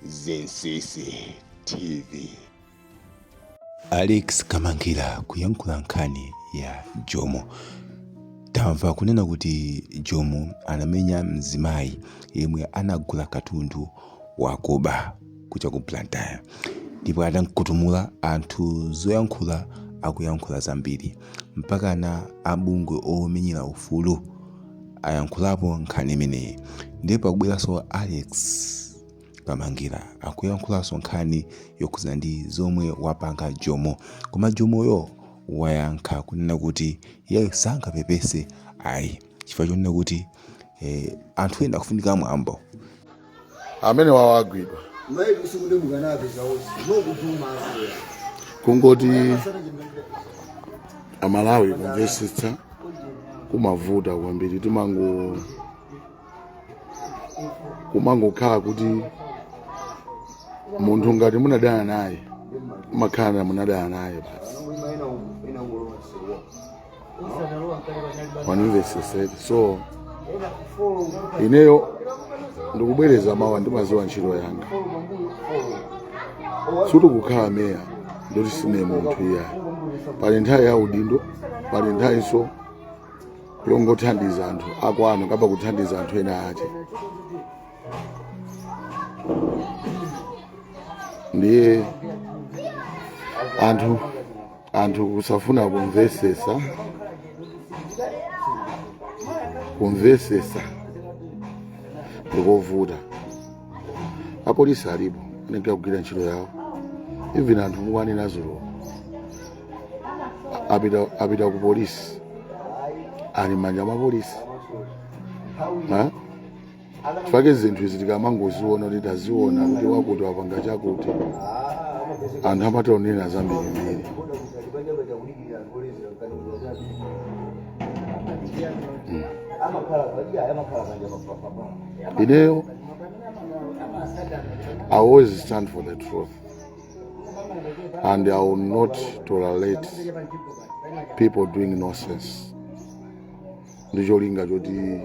Zinsisi TV. Alex Kamangila kuyankhula nkhani ya Jomo. Tamva kunena kuti Jomo anamenya mzimayi yemwe anagula katundu wakuba kuja ku Blantyre ndipo atamkutumula anthu zoyankhula akuyankhula zambiri mpakana abungwe omenyera ufulu ayankhulapo nkhani imeneyi ndiye pakubweranso alex kamangira akuyankhulanso nkhani yokhudzana ndi zomwe wapanga jomo koma Jomoyo wayankha kunena kuti iye sangapepese ayi chifukwa chonena kuti anthu ena akufunika mwambo amenewowo agwidwa kungoti amalawi kumvesetsa kumavuta kwambiri timango kumangokhala kuti munthu ngati munadana naye mumakhala munadana naye basi andimvesese so ineyo ndikubwereza mawa ndimaziwa ntchito yanga sikuti kukhala meya ndiye kuti sine munthu iyayi pali nthawi ya udindo pali nthawinso yongothandiza anthu akwanu kapena kuthandiza anthu ena ake ndiye anthu anthu kusafuna kumvesesa kumvesesa ndikovuta apolisi alipo nde akugwira ntchito yawo even anthu mukuwanena dzulo apita, apita ku polisi ali m'manja mwa apolisi fake zinthu izi tikumangoziona kuti taziona kuti wakuti wapanga chakuti anthu amatha onena zambirimbiri ineyo i always stand for the truth and i will not tolerate people doing nonsense ndi cholinga choti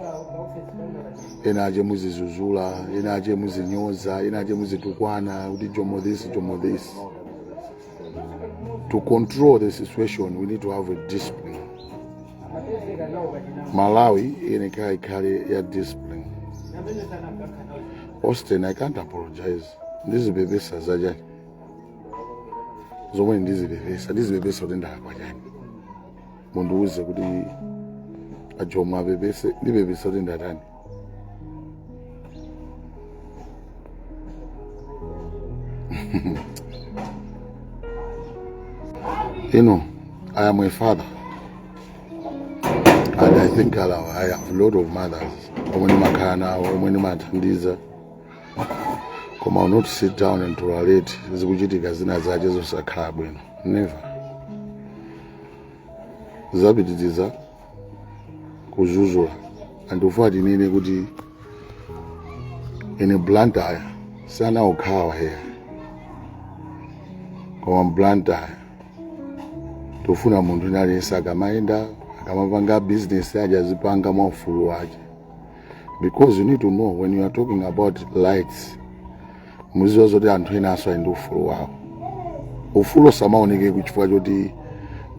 ena ache muzidzudzula ena ache muzinyoza ena ache muzitukwana kuti jomo this jomo this to control the situation we need to have a discipline malawi iyenekela ikhale ya discipline austin i can't apologize ndizipepesa zachani zomwe ndizipepesa ndizipepesa kuti ndalakwa chani mundiuze kuti a Jomo apepese ndipepesa kuti ndatani, you know i am a father and i think I love- i have a lot of mothers omwe ndimakhala nawo omwe ndimawathandiza koma I'll not sit down and tolerate zikuchitika zina zache zosakhala bwino never zapitiriza kuzunza anthu tifuna tinene kuti ife blantyre siya okhawa eya koma blantyre tikufuna munthu wina aliyense akamayenda akamapanga business yache azipanga mwa ufulu wake because you need to know when you are talking about rights muziziwa zoti anthu enanso ali ndi ufulu wawo ufulu usamaoneke chifukwa choti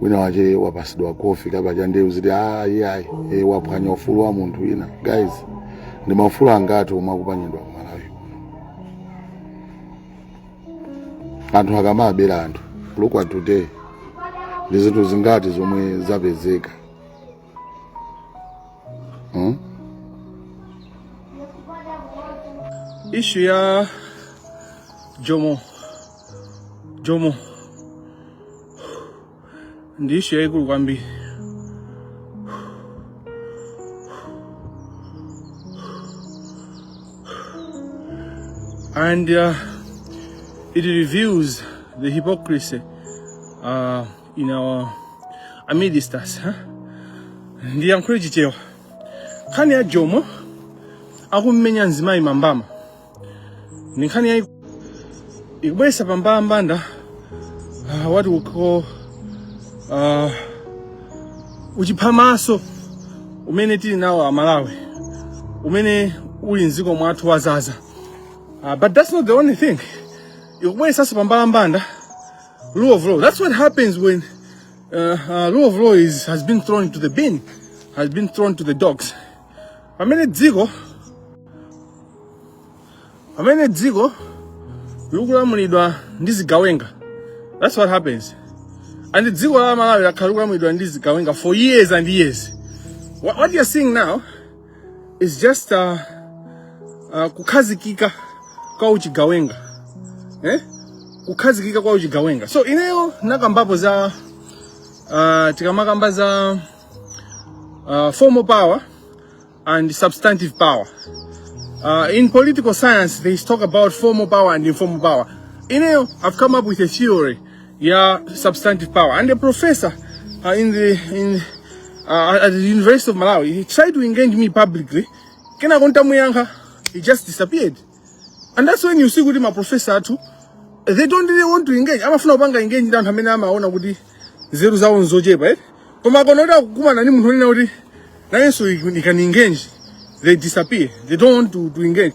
wina wache wapasidwa kofi kapena cha ndewu ziti ayi ayi e, waphwanya ufulu wa munthu wina guys ndi maufulu angati omwe akuphwanyidwa ku malawi anthu akamawabera anthu look at today ndi zinthu zingati zomwe zapezeka Hmm? Ishu ya Jomo Jomo ndi ishu yaikulu kwambiri. And uh, it reveals the hypocrisy uh, in our amidst us huh? ndiyankhule chichewa nkhani ya jomo akummenya mzimayi mbama ndi nkhani yayi ikubweresa pambalambanda uh, what we call uh, uchiphamaso umene tili nawo amalawi umene uli mdziko mwathu wazaza uh, but that's not the only thing ikubweresanso pambalambanda Rule of law. That's what happens when uh, uh, rule of law is, has been thrown into the bin, has been thrown to the dogs. Pamene dziko pamene dziko likulamulidwa ndi zigawenga. That's what happens. And dziko la Malawi lakhala likulamulidwa ndi zigawenga for years and years. What, what you're seeing now is just uh, uh, kukhazikika kwa uchigawenga eh? kukhazikika kwa uchigawenga so ineyo nakambapo za uh, tikamakamba za uh, formal power and substantive power uh, in political science they talk about formal power and informal power ineyo i've come up with a theory ya substantive power and a professor uh, in the in uh, at the University of Malawi he tried to engage me publicly kenako nditamuyankha he just disappeared and that's when you see kuti ma professor athu they don't really want to engage amafuna kupanga engage ndi anthu amene amaona kuti nzeru zawo nzochepa eh koma akona kuti akukumana ndi munthu onena kuti nayenso you can engage they disappear they don't want to, to engage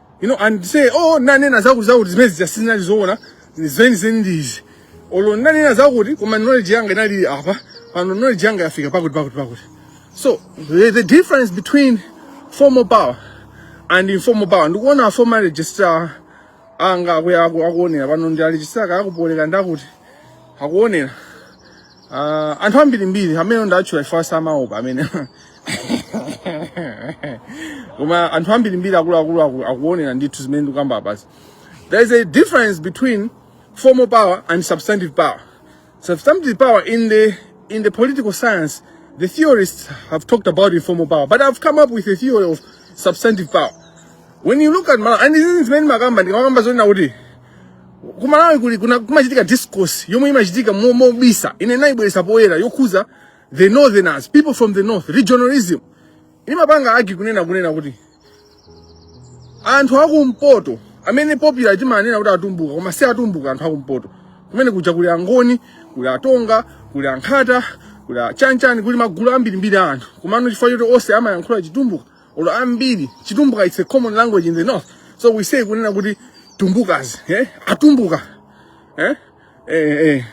you know and say oh ndinanena zakuti zakuti zimene zija sizinali zoona zeni zeni ndi izi olo ndinanena zakuti koma knowledge yanga inali apa pano knowledge yanga yafika pakuti pakuti pakuti so the, the difference between formal power and informal power ndikuona former registrar anga akuya aku- akuonera pano ndi aregistrar aku Poly ka ndakuti akuonera Uh, anthu ambirimbiri amene ndawatchula chifukwa samaopa amene koma anthu ambirimbiri akuluakulu aku- akuonera ndithu zimene ndikukamba apazi there is a difference between formal power and substantive power substantive power in the in the political science the theorists have talked about informal power but i've come up with a theory of substantive power when you look at Malawi, and this is many makamba ndikamakamba zoti nakuti kumalawi kuli kuna- kumachitika discourse yomwe imachitika mo- mobisa ine ndaibweretsa poyera yokhuza the northerners people from the north regionalism imapanga argue kunena kunena kuti anthu akumpoto amene popularly timanena kuti atumbuka koma si atumbuka anthu akumpoto chifukwa kuja kuli angoni kuli atonga kuli ankhonde kuli achanchani kuli magulu ambirimbiri a anthu komano chifukwa choti onse amayankhula chitumbuka olo ambiri chitumbuka it's a common language in the north so we say kunena kuti Tumbukas eh? atumbuka eh? Eh, eh.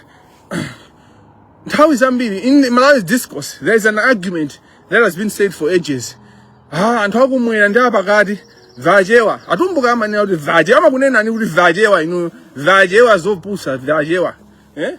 nthawi zambiri in malawi discourse there is an argument that has been said for ages ah, anthu akumwera ndi apakati vachewa atumbuka amanena kuti vachewa amakunenani kuti vachewa inuyo vachewa vopusa vachewa eh?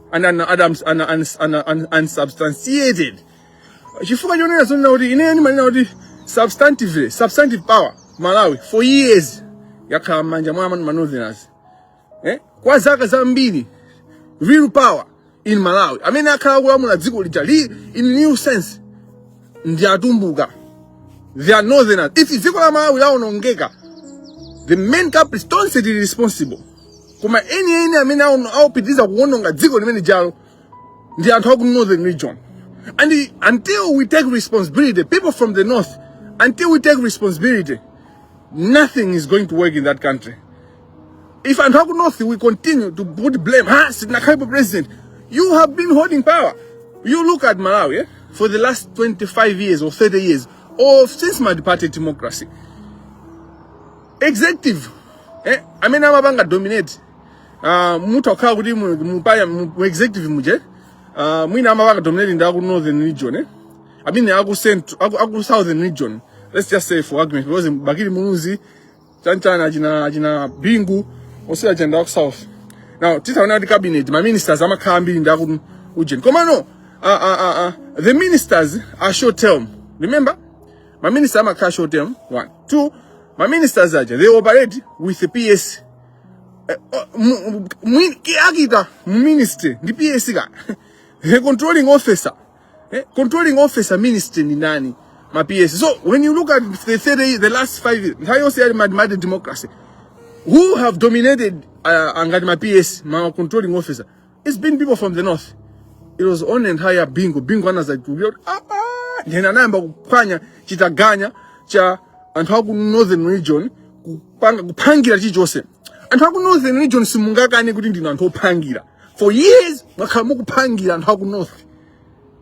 and an argument and an an an unsubstantiated chifukwa chonena zonena kuti ine ndimanena kuti substantively substantive power malawi for years yakhala m'manja mwa ma northerners eh? kwa zaka zambiri real power in malawi amene akhala akulamula dziko lija li in real sense ndi atumbuka they are northerners if dziko la malawi laonongeka the main culprits tonse tili responsible koma eni eni amene aon- aopitiriza kuwononga dziko limene jalo ndi anthu aku northern region and i- until we take responsibility people from the north until we take responsibility nothing is going to work in that country if anthu aku north we continue to put blame ha sitinakhalipo president you have been holding power you look at malawi eh? for the last 25 years or 30 years or since multiparty democracy executive eh, amene amapanga dominate uh, mutha kukhala kuti mu, mu, paya- mu, mu executive muje uh, mwina amapanga dominate ndi aku northern region eh? I mean aku, central, aku, aku southern region let's just say for argument because bakili muluzi chanchana achina achina bingu onse achokera aku south now titaona kuti cabinet ma ministers amakhala ambiri ndi aku ujeni komano uh, uh, uh, uh, the ministers are short term remember ma minister amakhala short term one two ma ministers aja they operate with the PS eh, oh, mu- mu- mwini- ki- akita mu ministry ndi PS ka the controlling officer eh, controlling officer ministry ni nani ma PS so when you look at the 30 the last 5 years nthawi yonse yali mad mad democracy who have dominated uh, angati ma PS ma controlling officer It has been people from the north. It was only nthawi ya Bingu. Bingu anazazindikira. Ah, ah. Nde anayamba kuphwanya chitaganya cha anthu aku northern region kupanga kuphangira chilichonse. Anthu aku northern region simungakane kuti ndinu anthu ophangira. For years mwakhala mukuphangira anthu aku north.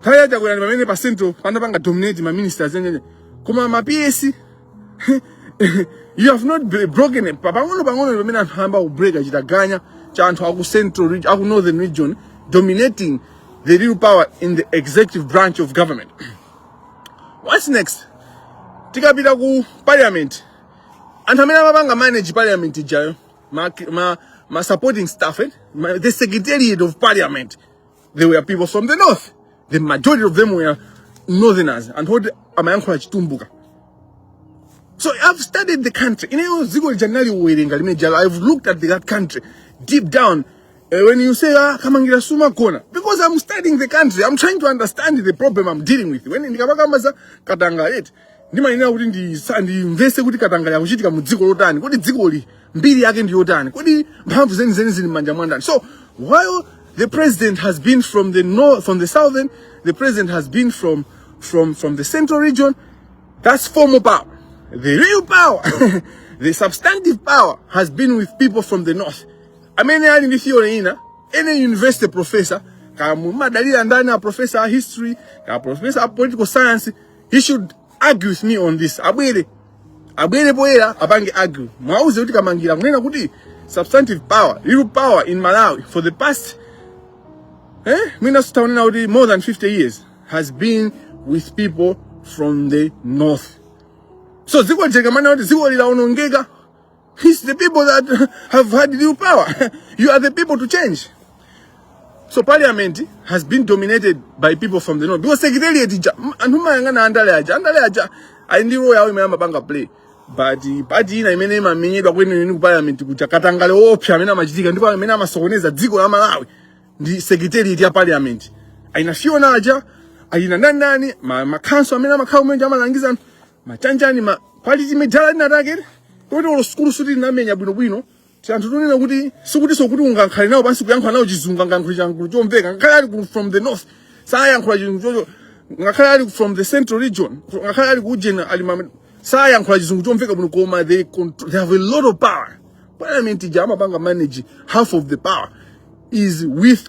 Nthawi ya Chakwera ndi pamene pa central panapanga dominate ma ministers enieni. Koma ma PS you have not br- broken it. Pa- Pang'ono pang'ono ndi pamene anthu ayamba kubreaka chitaganya cha anthu aku central region, aku northern region dominating the real power in the executive branch of government. What's next? Tikapita ku parliament anthu amene amapanga manage parliament ijayo ma, ma, ma supporting staff eh? ma, the secretariat of parliament they were people from the north the majority of them were northerners anthu oti amayankhula chitumbuka so i've studied the country ineyo dziko lija ndinaliwerenga limene lija i've looked at that country deep down Eh, when you say ah, kamangira sumagona because i'm studying the country i'm trying to understand the problem i'm dealing with when ndikamakamba za katangale eti ndimayenera kuti ndisa- ndimvese kuti katangale akuchitika mu dziko lotani kodi dzikoli mbiri yake ndi yotani kodi mphamvu zenizeni zili m'manja mwa ndani so while the president has been from the north from the southern the president has been from from from the central region that's formal power the real power the substantive power has been with people from the north amene ali ndi theory ina any university professor kaya mumadalira ndani a professor wa history kaya professor wa political science He should argue with me on this. Abwere abwere poyera apange argue. Mwauze kuti Kamangira akunena kuti substantive power, real power in Malawi for the past eh mwina zoti kunena kuti more than 50 years has been with people from the north. So dziko lija tikamanena kuti dziko lija laonongeka It's the people that have had real power. you are the people to change. So parliament has been dominated by people from the north. Because secretariat ija, anthu mayang'ana andale aja, andale aja, ali ndi role yawo imene amapanga play. But eh, pati ina imene imamenyedwa kwenikweni ku parliament kuja katangale oopsa amene amachitika ndipo amene amasokoneza dziko la Malawi ndi secretariat ya parliament. Aina Fiona aja, aina nani nani, ma, makhansolo amene amakhala kumene kuja amalangiza anthu. machanjani ma parly chimidala linatake toti olo sukulu sikuti tinamenya bwinobwino tianthu tonena kuti sikutinso kuti ungankhale nawo pansi kuyankhula nawo chizungu angayankhule chizungu chomveka ngakhale ali ku- from the north sayankhula chizungu chocho ngakhale ali from the central region ngakhale ali ku ujeni ali ma- sayankhula chizungu chomveka bwino koma they, contr- they have a lot of power parliament ija amapanga manage half of the power is with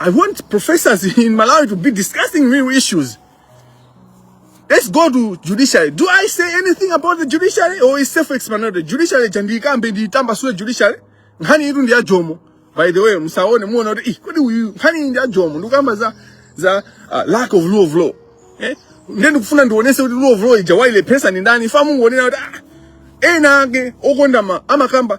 I want professors in Malawi to be discussing real issues. Let's go to judiciary. Do I say anything about the judiciary or is self-explanatory? Judiciary ndikambe ndakamba kale sure judiciary. Nkhani iyi ndi ya Jomo. By the way, musaone muona kuti ih kodi uyu nkhani ndi ya Jomo ndikamba za za uh, lack of rule of law. Eh? Ndiye ndikufuna ndionese kuti rule of law ija wailepheretsa ndi ndani. Osamangonena kuti ah ena ake okonda ma amakamba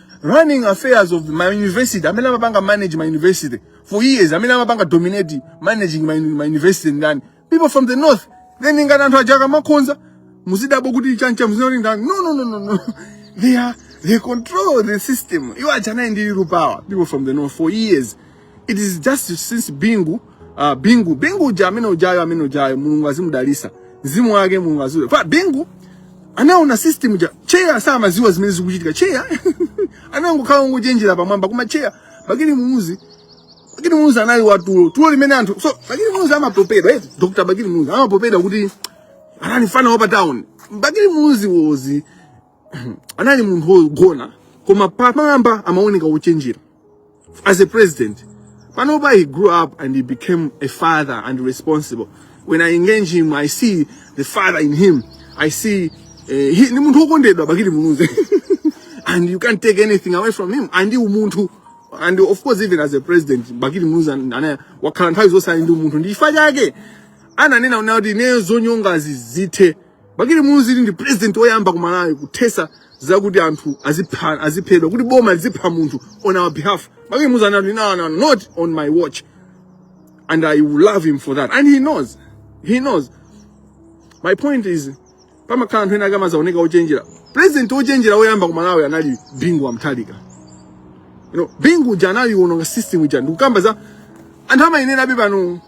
running affairs of ma university amene amapanga manage ma university for years amene amapanga dominate managing ma, ma university ndani people from the north then ngati anthu aja akamakhonza muzidabwa kuti chani cha muzidabwa ndani no no no no no they are they control the system iwo aja ali ndi real power people from the north for years It is just since Bingu uh, Bingu Bingu uja amene ujayo amene ujayo Mulungu azimudalisa mzimu wake Mulungu aziwuse kwa Bingu anaona system ja chair samaziwa zimene zikuchitika chair anangokhala ngochenjera pamwamba koma chair bakili muluzi bakili muluzi anali watulo tulo limene anthu so bakili muluzi amapopedwa eti Dr. bakili muluzi amapopedwa kuti anali fana wa pa town bakili muluzi wozi anali munthu wogona koma pamwamba amaoneka wochenjera as a president panopa he grew up and he became a father and responsible when i engage him i see the father in him i see uh, he, ni munthu wokondedwa bakili muluzi and you can't take anything away from him and ndi umunthu and of course even as a president bakili muluzi an- ana amakhala nthawi zonse ali ndi umunthu ndi chifukwa chake ananena kuti ineyo zonyongazi zithe Bakili Muluzi ndi president oyamba ku Malawi kuthesa zakuti anthu azipha aziphedwa kuti boma lizipha munthu on our behalf. Bakili Muluzi anati no no not on my watch and I will love him for that and he knows he knows my point is pamakhala anthu ena akumazaoneka ochenjera president ochenjera oyamba ku Malawi anali Bingu wa Mutharika you know Bingu uja anawononga system uja ndikukamba za anthu amayenera abe pano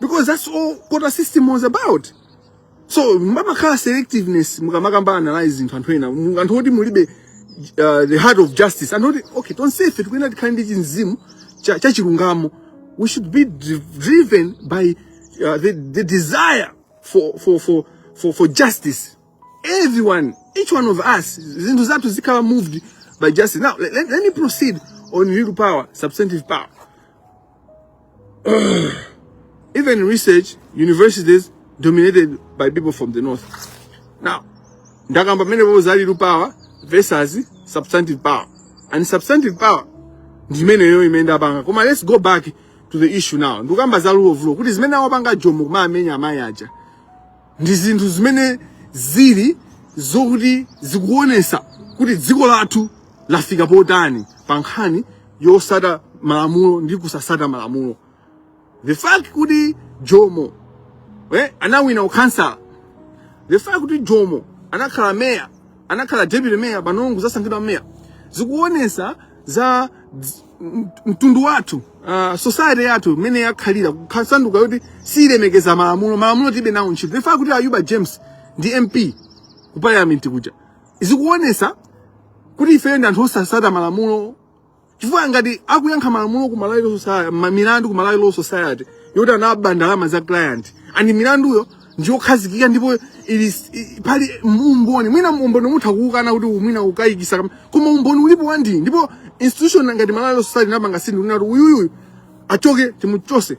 because that's all quota system was about so pamakhala selectiveness mukamapanga analyze zinthu anthu ena mu- anthu oti mulibe uh, the heart of justice anthu oti okay tonsefe tikuyenera tikhale ndi chimzimu cha, cha chilungamo we should be dri- driven by uh, the, the desire for, for, for, for, for justice everyone each one of us zinthu zathu zikhale moved by justice now let, let, let me proceed on real power substantive power Even in research, universities dominated by people from the north. Now, ndakamba mmenepo za real power versus substantive power. And substantive power ndi imeneyo imene ndapanga. Koma let's go back to the issue now. Ndikamba za rule of law kuti zimene awapanga jomo kumamenya amayi aja. ndi zinthu zimene zili zokuti zikuonesa kuti dziko lathu lafika potani pa nkhani yotsata malamulo ndi kusatsata malamulo the fact kuti jomo eh, anawina ukhansala the fact kuti jomo anakhala meya anakhala deputy mayor pano kuzasankhidwa mayor zikuonesa za dz- m- mtundu wathu uh, society yathu imene yakhalira kusanduka yoti siyilemekeza malamulo malamulo tilibe nawo ntchito the fact kuti ayuba james ndi mp ku parliament kuja zikuonesa kuti ifeyo ndi anthu osatsata malamulo chifukwa ngati akuyankha malamulo ku Malawi Law Society ma- milandu ku Malawi Law Society yoti anaba ndalama za client and milanduyo ndiyokhazikika ndipo ili i- pali umboni mwina umboni mutha kuukana kuti mwina ukukayikitsa kam- koma umboni ulipo wandi ndipo institution ngati Malawi Law Society ndikupanga sign kuti uyuyu achoke timuchotse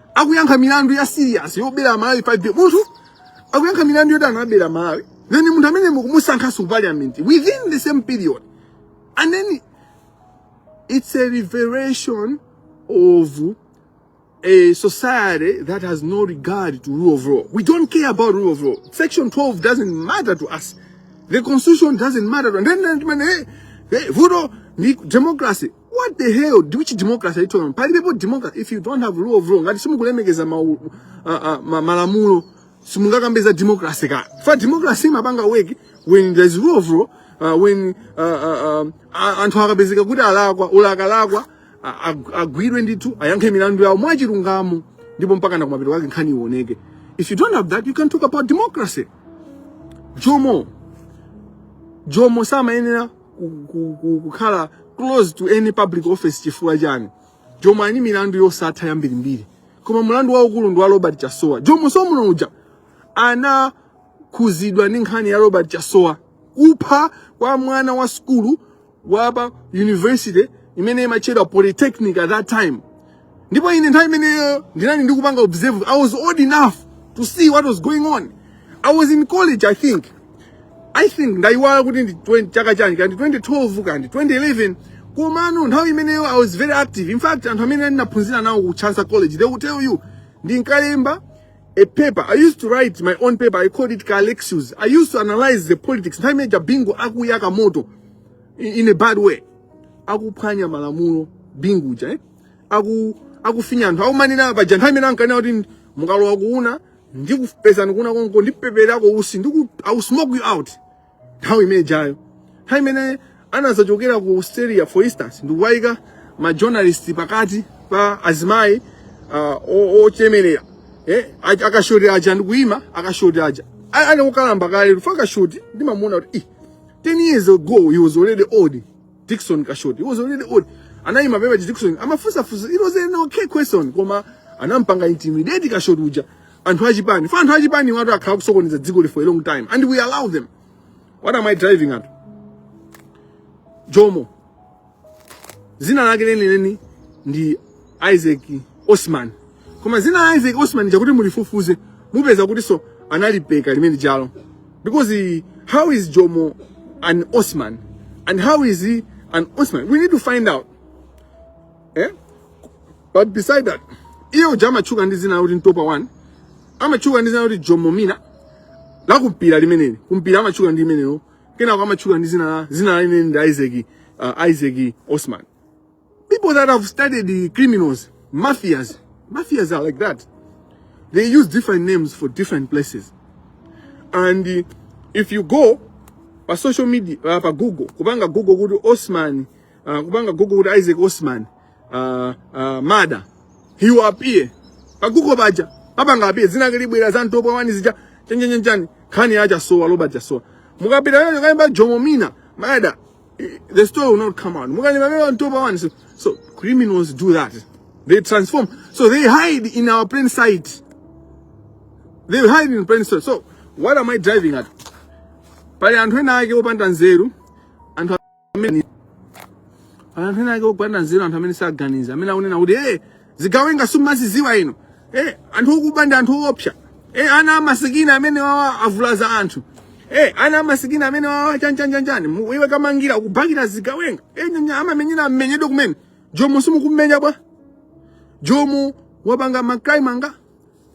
akuyankha milandu ya serious yobera Malawi 5 billion munthu akuyankha milandu yoti anabera Malawi then munthu amene mukumusankhanso ku parliament within the same period and then it's a revelation of a society that has no regard to rule of law. We don't care about rule of law. Section 12 doesn't matter to us. The constitution doesn't matter to us. And then, then, then, hey, hey, voodoo, ni- democracy. What the hell? Which democracy are you talking about? Palibepo democracy if you don't have rule of law. Ngati simukulemekeza ma, uh, uh, ma malamulo simungakambe za democracy ka. Fa democracy imapanga work when there's rule of law uh, when uh, uh, um, a- anthu akapezeka kuti alakwa ulakalakwa a- ag- agwidwe ndithu ayankhe milandu yawo mwachilungamo ndipo mpaka na kumapeto kwake nkhani ioneke. If you don't have that you can't talk about democracy. Jomo Jomo samayenera kukhala close to any public office chifukwa chani jomo ali milandu yosatha yambirimbiri koma mulandu waukulu ndi wa robert chasowa jomo Osman uja anakhuzidwa ndi nkhani ya robert chasowa kupha kwa mwana wa skulu wapa university imene imatchedwa polytechnic at that time ndipo ine nthawi imeneyo ndinali ndikupanga observe i was old enough to see what was going on i was in college i think i think ndayiwala kuti ndi 20 chaka chani kaya ndi 2012 kaya ndi 2011 komano nthawi imeneyo i was very active in fact anthu amene ndinaphunzira nawo ku chancellor college they will tell you ndinkalemba paper i used to write my own paper i called it calexus i used to analyze the politics nthawi imene ija bingu akuyaka moto in, in a bad way akuphwanya malamulo bingu uja eh? aku akufinya anthu akumanena paja nthawi imene ankanena kuti mukalowa kuuna ndikupezani kuuna konko ndipepererako utsi ndiku I will smoke you out nthawi imene ijayo nthawi imene anazachokera ku australia for instance ndikuwayika ma journalist pakati pa azimayi uh, o- ochemerera eh, a- akashoti aja ndikuyima akashoti aja A- ali okalamba kale fa akashoti ndimamuona kuti "Ih, 10 years ago he was already old Dickson Kashoti. He was already old. Anaima pamene paja Dickson amafunsa funso. It was an okay question koma anampanga intimidate Kashoti uja. Anthu achipani. Fa anthu achipani awatu akhala akusokoneza dziko ili for a long time and we allow them. What am I driving at? Jomo. Zina lake lenileni ndi Isaac Osman. Koma zina la Isaac Osman chikhala kuti mulifufuze mupeza kuti nso analipeka limene lijalo. Because he, how is Jomo an Osman? And how is he an Osman? We need to find out. Eh? But beside that, iye uja amatchuka ndi zina kuti ntopa 1 amatchuka ndi zina kuti Jomo dzina la kumpira limeneli kumpira amatchuka ndi limenelo kenako amatchuka ndi zina la zina la limeneli ndi Isaac uh, Isaac Osman People that have studied the criminals, mafias, mafias are like that. They use different names for different places. And uh, if you go pa social media, uh, pa Google, kubanga Google kudu Osman, uh, kubanga Google kudu Isaac Osman, uh, uh, mada, he will appear. Pa Google baja, pabanga appear, zina kilibu ila zanto pa wani zija, chenye chenye chenye, kani aja soa, loba aja soa. Mukapita yote kani ba jomomina, mada, the story will not come out. So, so criminals do that. They transform. So they hide in our plain sight. They hide in plain sight. So what am I driving at? Pali anthu ena ake opanda nzeru, anthu amene anthu ena ake opanda nzeru, anthu amene samaganiza, amene akunena kuti eh zigawenga simumaziziwa inu eh, anthu akuba ndi anthu oopsa eh, ana amasikini amenewawa avulaza anthu eh, ana amasikini amenewawa chanichani Mu- iwe kumangira ukubakira zigawenga eh, nyanya amamenyera amenyedwe kumene jomo simukumenya bwanji Jomo wapanga mukammanga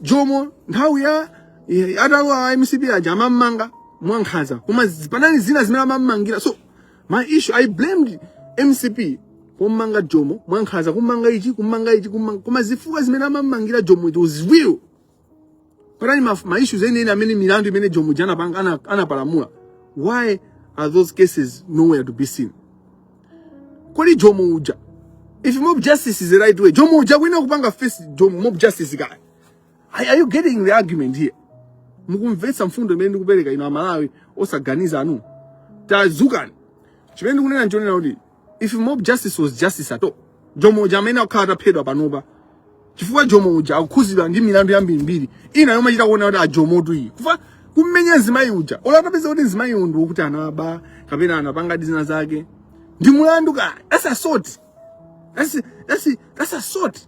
jomo nthawi ya ya- atawa a MCP aja amammanga mwankhaza koma zi- panali zina zimene amammangira so my issue i blamed mcp kummanga jomo mwankhaza kummanga ichi kummanga ichi kummanga koma zifukwa zimene amammangira jomo it was real panali ma, ma issues enieni amene milandu imene jomo uja anapanga ana- anapalamula why are those cases nowhere to be seen kodi jomo uja if mob justice is the right way jomo uja akuyenera kupanga face jomo mob justice kaya Are, are you getting the argument here? Mukumvetsa mfundo imene ndikupereka ino amalawi osaganiza inu. Tadzukani. Chimene ndikunena nchonena kuti if mob justice was justice at all, Jomo uja amenene akanakhala ataphedwa panopa chifukwa Jomo uja akukhudzidwa ndi milandu yambirimbiri ina yomwe chita kuona kuti aJomotu iyi kuja kummenya mzimayi uja olo atapeza kuti mzimayi uyu ndikuti anaba kapena anapanga zina zake ndi mulandu kale that's assault that's, that's, that's assault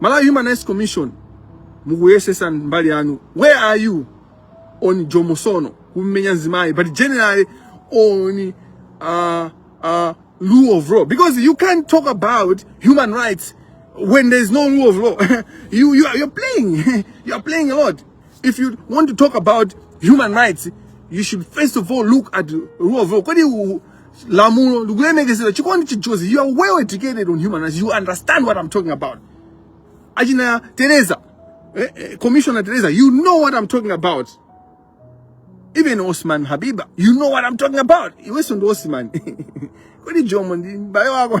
Malawi Human Rights Commission mukuyesesa mbali yanu where are you on Jomo Sono kumenya mzimayi but generally on uh, uh, rule of law because you can't talk about human rights when there's no rule of law you, you are, you're playing you're playing a lot if you want to talk about human rights you should first of all look at rule of law kodi u- lamulo likulemekezedwa chikondi chijozi you are well educated on human rights you understand what i'm talking about achina teresa eh, eh, commissioner teresa you know what i'm talking about even osman habiba you know what i'm talking about iwenso ndi osman kodi jomo ndi m'bale wako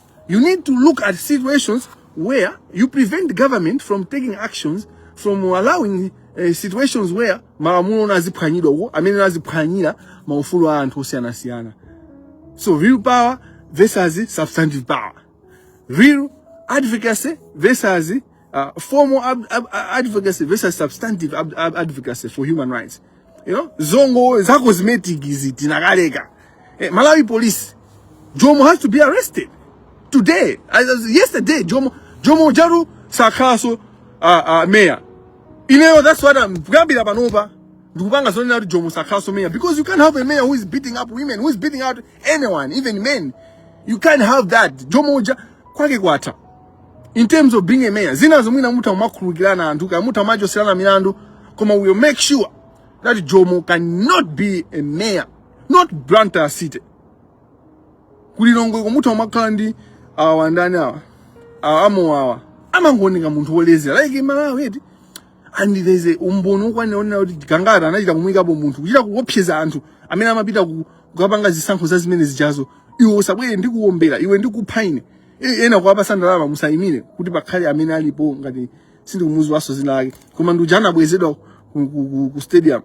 You need to look at situations where you prevent government from taking actions from allowing uh, situations where malamulo naziphwanyidwa uko amene naziphwanyira maufulu a anthu osiyanasiyana so real power versus substantive power real advocacy versus uh, formal ab- ab- advocacy versus substantive ab- ab- advocacy for human rights you know, zongo za cosmetic izi tinakaleka eh, malawi police jomo has to be arrested today as, as yesterday jomo jomo jaru sakhaso uh, uh, mayor ineyo that's what i'm kuyambira panopa ndikupanga zonena kuti jomo sakhaso mayor because you can't have a mayor who is beating up women who is beating out anyone even men you can't have that jomo uja kwake kwatha in terms of being a mayor zinazo mwina mutha kumakhululukirana anthu kaya mutha kumachoserana milandu koma we will make sure that jomo cannot be a mayor not blantyre city kulilongweko mutha kumakhala ndi awa ndani awa awa a mowawa amangooneka munthu wolezera like malawi eti and there's umboni wokwanira wonena kuti gangata anachita kumuyikapo munthu kuchita kuopseza anthu amene amapita ku- kukapanga zisankho za zimene zijazo iwe usabwere ndikuwombera iwe ndikupha ine E- ena kuwapatsa ndalama musayimire kuti pakhale amene alipo ngati sindikumudziwanso dzina lake koma ndi uja anabwezedwa ku, ku, ku, ku stadium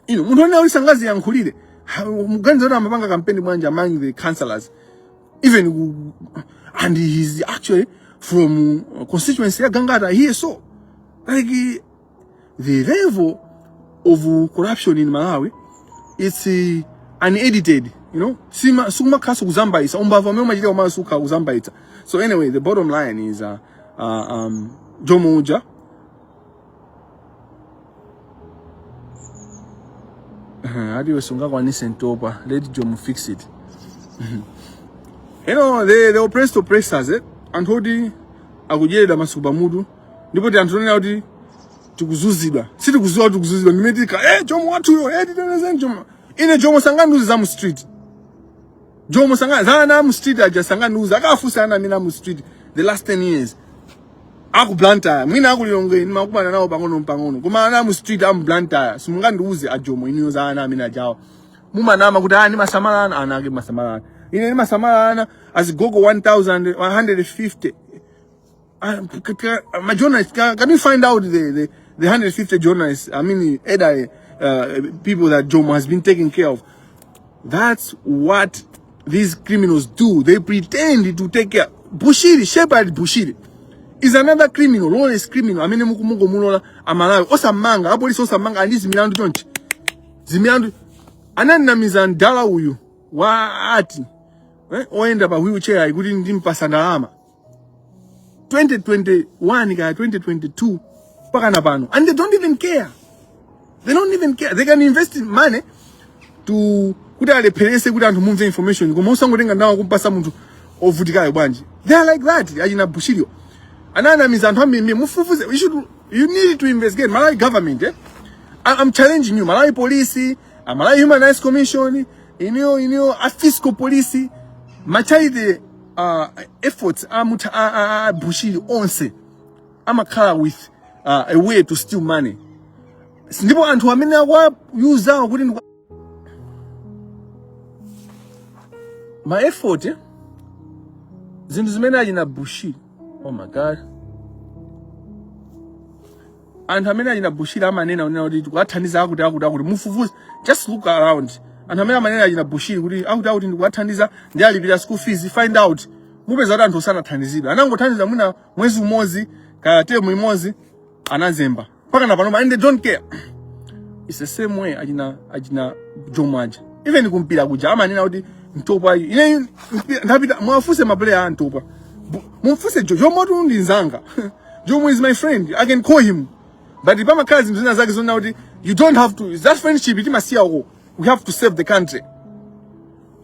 ino munthu woneneratu sangaziyankhulire Ha, muganiza kuti amapanga kampeni bwanji among the councillors even ku- and he is actually from uh, constituency ya gangata iye so like the level of corruption in malawi it's uh, unedited you know sima sikumakhaso kuzambaisa umbava amene umachita komanso sukha kuzambaitsa so anyway the bottom line is uh, uh, um, jomo uja adiwe sungakwanise ntopa let jomo fix it you know the, the oppressed oppressors eh? anthu oti akudyerera masuku pamutu ndipo ndi anthu onena kuti tikuzunzidwa sitikudziwa kuti tikuzunzidwa ndimene tika e eh, jomo wathuyo e eh, titetezeni jomo ine jomo sangandiuze za mu street jomo sanga za ana mu street aja sangandiuze akafunse ana a mu street the last 10 years aku Blantyre mwina aku Lilongwe ndimakumana nawo pang'ono pang'ono koma ana mu street amu Blantyre simungandiuze ajomo inuyo za ana amenewajawa mumanama kuti ani ah, mumasamala ana anake mumasamala ine ndimasamala azigogo 1000 150 Uh, c- c- c- my journalist, can, can you find out the, the, the 150 journalists, I mean, either uh, people that Jomo has been taking care of? That's what these criminals do. They pretend to take care. Bushiri, Shepherd Bushiri is another criminal, lawless criminal. I mean, mukumungo mulola amalawi osamanga apolisi osamanga andi zimilandu chonchi zimilandu anandinamiza mdala uyu wa ati eh, oyenda pa wheelchair ayi kuti ndimpasa ndalama 2021 kaya 2022 mpaka na pano and they don't even care they don't even care they can invest money to kuti alepherese kuti anthu mumve information koma usangotenga ndalamazo kumpatsa munthu ovutikayo bwanji they are like that achina bushiri ananamiza anthu ambiri mufufuze you should you need to investigate malawi government eh? I, i'm challenging you malawi police a malawi human rights commission inuyo inuyo a fiscal police machayite uh, efforts a mutha a, a, a bushiri onse amakhala with uh, a way to steal money ndipo anthu amene akuwauzawo kuti ndi ma effort eh? zinthu zimene achina bushiri oh my god anthu amene achina bushiri amanena unena kuti tikuwathandiza akuti akuti akuti mufufuze just look around anthu amene amanena achina bushiri kuti akuti akuti ndikuwathandiza ndikuwalipira school fees find out mupeza kuti anthu sanathandizidwe anangothandiza mwina mwezi umodzi kaya term imodzi anazemba mpaka na panopa and they don't care it's the same way achina achina jomo aja even kumpira kuja amanena kuti mtopa iyi ineyo mpira- ndapita muwafunse mapuleya a mtopa mumfunse jomo tu ndi nzanga Jomo is my friend. I can call him. But if I'm a cousin, zina zake zina kuti you don't have to. That friendship it must go. We have to save the country.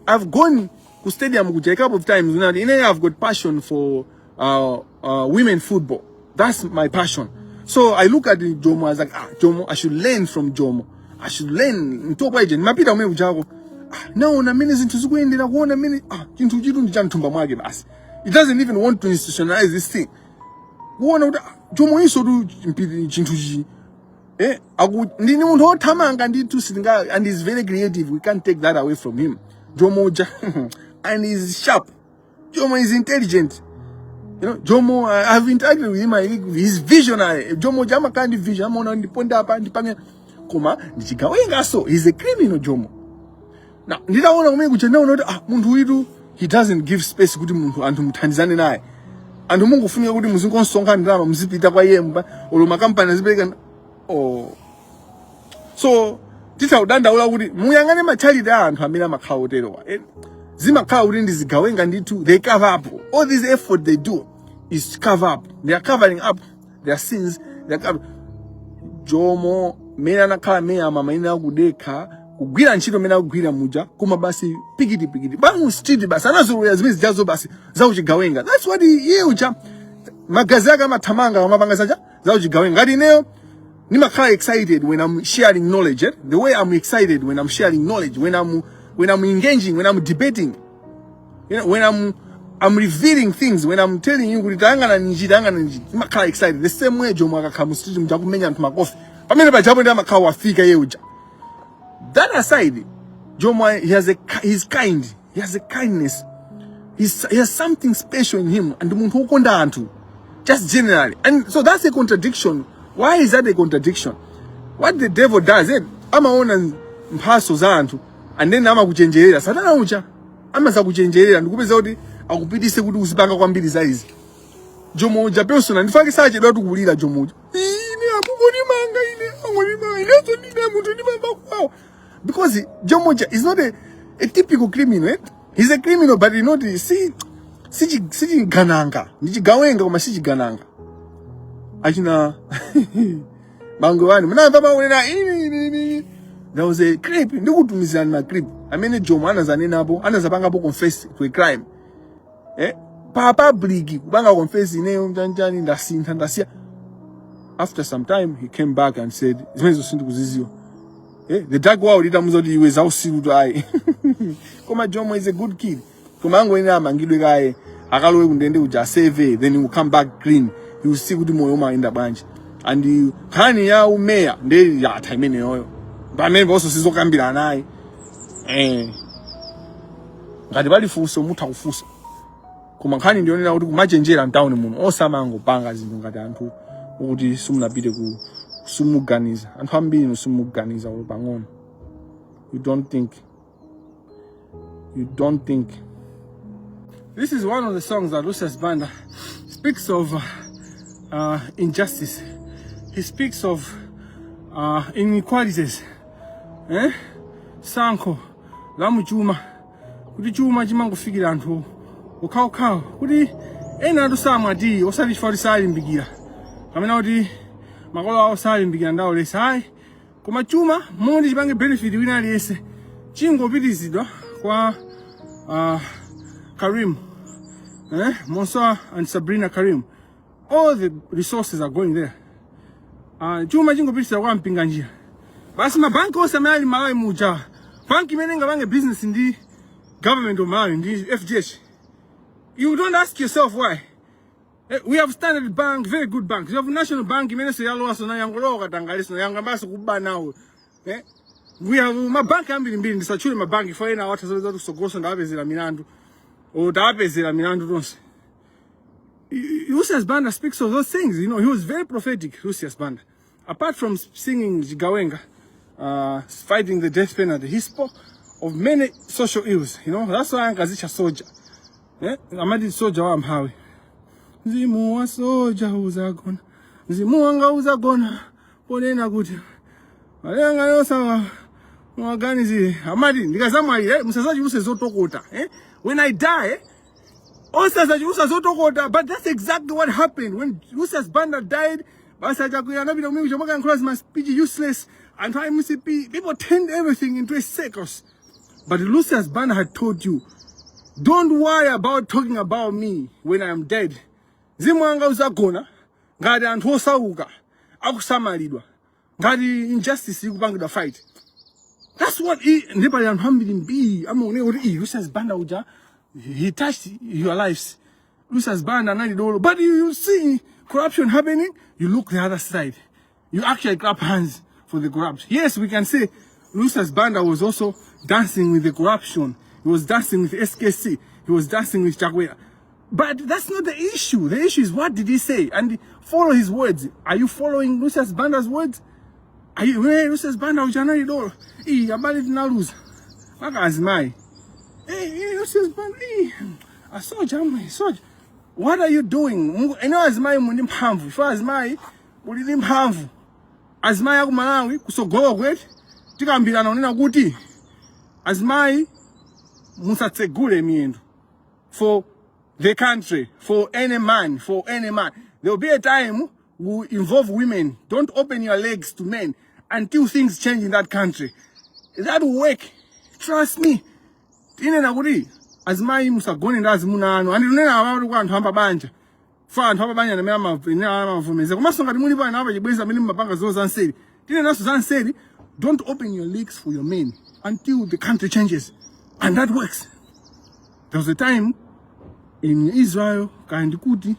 I've gone to stadium kuja a couple of times. Zina kuti ine I've got passion for uh, uh, women football. That's my passion. So I look at the Jomo I was like, ah, Jomo, I should learn from Jomo. I should learn. Mtopa ije, nimapita ume ujako. Ah, naona mimi zinthu zikuendera kuona mimi ah, chinthu chitu ndi cha mthumba mwake basi. It doesn't even want to institutionalize this thing. kuona kuti ah, jomoyuso tu mpi- chinthu chi eh aku ndini munthu othamanga ndithu sitinga and he's very creative we can't take that away from him jomo uja and he's sharp jomo is intelligent you know jomo I, i've interacted with him I, he's visionary jomo uja amakhala ndi vision amaona ndipo apa ndipange koma ndichigawengaso he's a criminal jomo Now, nditaona kumene kuja ndinaona kuti ah, munthu uyitu he doesn't give space kuti munthu anthu muthandizane naye anthu mumangofunika kuti muzingosonkha ndalama muzipita kwa iye mba olo makampani azipereka oh. so titaudandaula kuti muyang'ane ma charity a anthu amene amakhala oterewa eh, zimakhala kuti ndi zigawenga ndithu they cover up all this effort they do is cover up they are covering up their sins their garbage. jomo mene anakhala meya mama ine akudekha kugwira ntchito mene akugwira muja koma basi pikiti pikiti pa mu street basi anazolowera zimene zijazo basi zauchigawenga that's what iye uja magazi ake amathamanga amapanga zaja zauchigawenga ngati ineyo nimakhala excited when i'm sharing knowledge eh? the way i'm excited when i'm sharing knowledge when i'm when i'm engaging when i'm debating You know, when I'm I'm revealing things when I'm telling you kuti tayangana ninji tayangana ninji nimakhala excited the same way Jomo akakhala mu street muja kumenya anthu makofi pamene pajapo ndi amakhala wafika iye uja that aside Jomo he has a he's kind he has a kindness he's, he has something special in him and ndi munthu wokonda anthu just generally and so that's a contradiction why is that a contradiction what the devil does it eh, amaona mphatso za anthu and then amakuchenjerera satana uja amazakuchenjerera ndikupeza kuti akupitise kuti uzipanga kwambiri za izi jomo uja personal ndifake sachedwatu kulira jomo uja ine akukonimanga ine angonimanga ineso ndine munthu ndimamva kuwawa because jomo uja is not a, a typical criminal eh? he's a criminal but you know the- si si chi- si chigandanga ndi chigawenga koma si chigandanga achina bangwe one munamva maunena ini ini ini ndauze clip ndikutumizirani ma clip amene jomo anazanenapo anazapangapo confess to a crime eh pa public kupanga confess ineyo chanichani ndasintha ndasiya after some time he came back and said zimenezo sindikuziziwa eh the dark world itamuuza kuti iwe zausirutu ayi koma jomo is a good kid koma angoyenera amangidwe kaye akalowe kundende kuja aseve then you come back clean you see kuti moyo umayenda bwanji and nkhani ya umeya nde yatha imeneyoyo pameneponso sizokambirana ayi eh ngati pali funso mutha kufunsa koma nkhani ndiyonena kuti kumachenjera mtawuni muno osamangopanga zinthu ngati anthu oti simunapite ku simuganiza anthu ambiri simuganiza pang'ono you don't think You don't think. This is one of the songs that Lucius Banda speaks of uh, injustice. He speaks of uh, inequalities. Eh? Sankho la mu chuma. Kuti chuma chimangofikira anthu okhaokhawo. Kuti ena anthu samwa tea osati chifukwa kuti salimbikira. Kapena kuti makolo awo salimbikira ndaulesi ayi. koma chuma moti chipange benefit wina aliyense chingopitizidwa kwa uh, karim eh? mansoor and sabrina karim all the resources are going there uh, chuma chingopitizidwa kwa mpinganjira basi mabanki onse amene ali malawi muja banki imene ingapange business ndi government of malawi ndi fdh you don't ask yourself why Eh, we have Standard Bank, very good bank. We have National Bank, imeneso yalowa sona yangolowa katangale sona yangoyambaso kuba nawo. Eh? We have mabanki ambirimbiri ndisatchule mabanki fa ena awatha zoleza kuti sogoso ndawapezera milandu. O ndawapezera milandu onse. Lucius Banda speaks of those things, you know, he was very prophetic, Lucius Banda. Apart from singing Chigawenga, uh, fighting the death penalty, he spoke of many social ills. You know, that's why ankazitcha soldier. Eh? Amati soldier wa amphawi. Mzimu wa soldier uzagona. Mzimu wanga uzagona. Ponena kuti. Malenga yosawa. Mwaganizi. Amati, ndikazamwalira, eh? Musazachuluse zotokota. Eh? When I die, osadzachulutsa zotokota but that's exactly what happened when lucius banda died basi achakwera anapita kumene kuja kumakayankhula zima speech useless anthu a mcp people turned everything into a circus but lucius banda had told you don't worry about talking about me when i am dead mzimu wanga uzagona ngati anthu osauka akusamalidwa ngati injustice ikupangidwa fight that's what i- ndi pali anthu ambiri mbiri amaoneka kuti iyi lucius banda uja he touched your lives lucius banda anali dolo but you, you see corruption happening you look the other side you actually clap hands for the corrupt yes we can say lucius banda was also dancing with the corruption he was dancing with skc he was dancing with chakwera But that's not the issue. The issue is what did he say? And follow his words. Are you following Lucius Banda's words? Are you, hey, Lucius Banda ujanali dolo. Hey, habari tunaluza. Maka azimai. Hey, hey, Lucius Banda. Hey, I saw Jamai. I saw What are you doing? Mungu, eno azimai mundi mpamvu. Shwa azimai, mulidi mpamvu. Azimai yaku Malawi, kusogowa kwetu. Tika mbila naonena kuti. Azimai, musatsegule miendo. for the country, for any man, for any man. There will be a time we involve women. Don't open your legs to men until things change in that country. That will work. Trust me. Ine nakuti azimai musagone ndi azimuna anu. Andinena abantu kwa anthu ambabanja. fa anthu apabanja amene amayenera amavomereza komanso ngati mulipo ena apachibwenzi amene mumapanga zinthu za nseri tinenanso za nseri don't open your legs for your men until the country changes and that works there was a time in israel kaya ndikuti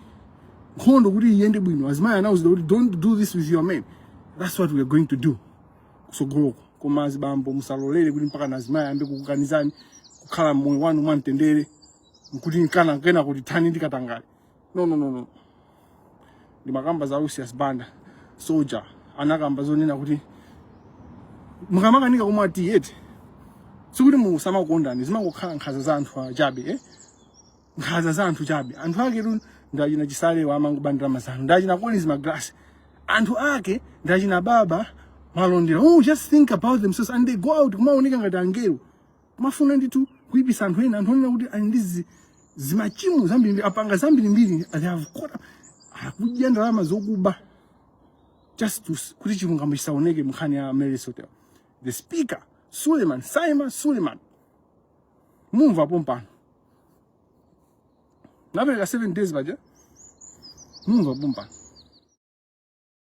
nkhondo kuti iyende bwino azimayi anawuzidwa kuti don't do this with your men that's what we are going to do kusogoloko koma azibambo musalolere kuti mpaka nazimayi ayambe kukukanizani kukhala mmoyo wanu mwamtendere kuti akanakanena kuti thanani ndi katangale no no no no ndimakamba za Lucius Banda soldier anakamba zonena kuti mukamakanika kumwa tea eti sikuti musamakondani zimangokhala nkhaza za anthu achabe eh nkhaza za anthu chabe anthu aketu ndachina chisale awa amangobandira mazano ndachina collins magalasi anthu ake ndachina baba malondera oh just think about themselves and they go out kumaoneka ngati angelo kumafuna ndithu kuipitsa anthu ena anthu onena kuti ali ndi zi- zimachimo zambirimbiri apanga zambirimbiri ali ku court akudya ndalama zokuba just to s- kuti chilungamo chisaoneke mnkhani ya Amaryllis Hotel the speaker Suleiman Sameer Suleiman mumva pompano napereka 7 days paja mumva pompano